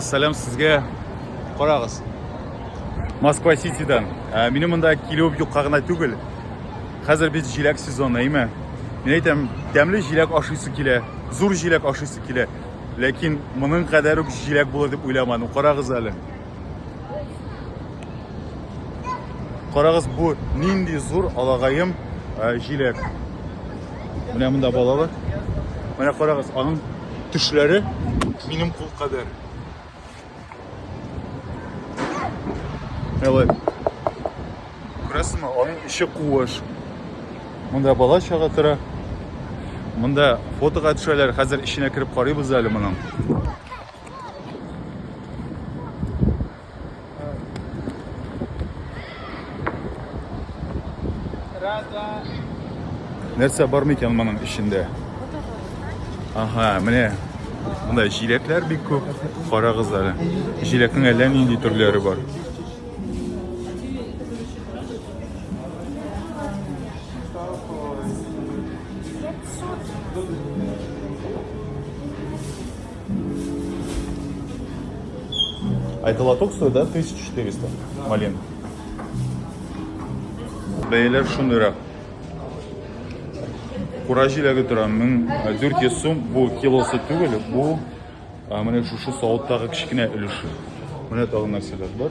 Сәлам сезгә. Карагыз. Москва Ситидан. Ә, минем монда килү юкка гына түгел. Хәзер бит җиләк сезоны, әйме? Мин әйтәм, тәмле җиләк ашыйсы килә, зур җиләк ашыйсы килә. Ләкин моның кадәр үк җиләк булыр дип уйламадым. Карагыз әле. Карагыз бу нинди зур алагаем җиләк. Менә монда балалар. Менә карагыз, аның төшләре минем кул кадәр. Әле. Күрәсезме, аның эче куыш. Монда бала чага тора. Монда фотога төшәләр. Хәзер эченә кереп карыйбыз әле моның. Нәрсә бар микән моның эчендә? Ага, менә монда җиләкләр бик күп. Карагыз әле. Җиләкнең әллә нинди төрләре бар. А это лоток стоит, да, 1400 малин? Бәяләр шундыйрак. Кура җиләге тора 1400 сум. Бу килосы түгел, бу менә шушы савыттагы кечкенә өлеше. Менә тагын нәрсәләр бар.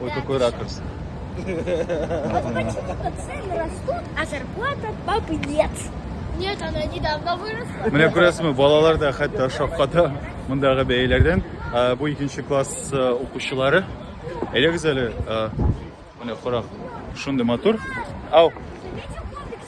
Ой, какой ракурс. Цены растут, а зарплата папы нет. Нет, она недавно выросла. Менә күрәсезме, балалар да хәтта шакката мондагы бәяләрдән. Ә, Бу икенче класс ә, укучылары. Әйдәгез әле, ә, менә карак, шундый матур. Ау,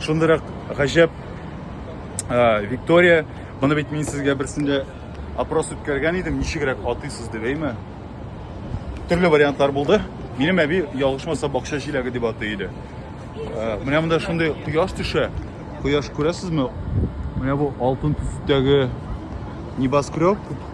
Шундырак гаҗәп э, Виктория, моны бит мин сезгә берсендә опрос үткәргән идем, ничегрәк атыйсыз дип, әйме? Төрле вариантлар булды. Минем әби ялгышмаса бакча җиләге дип атый иде. Э, менә монда шундый кояш төшә. Кояш күрәсезме? Менә бу алтын төстәге небоскреб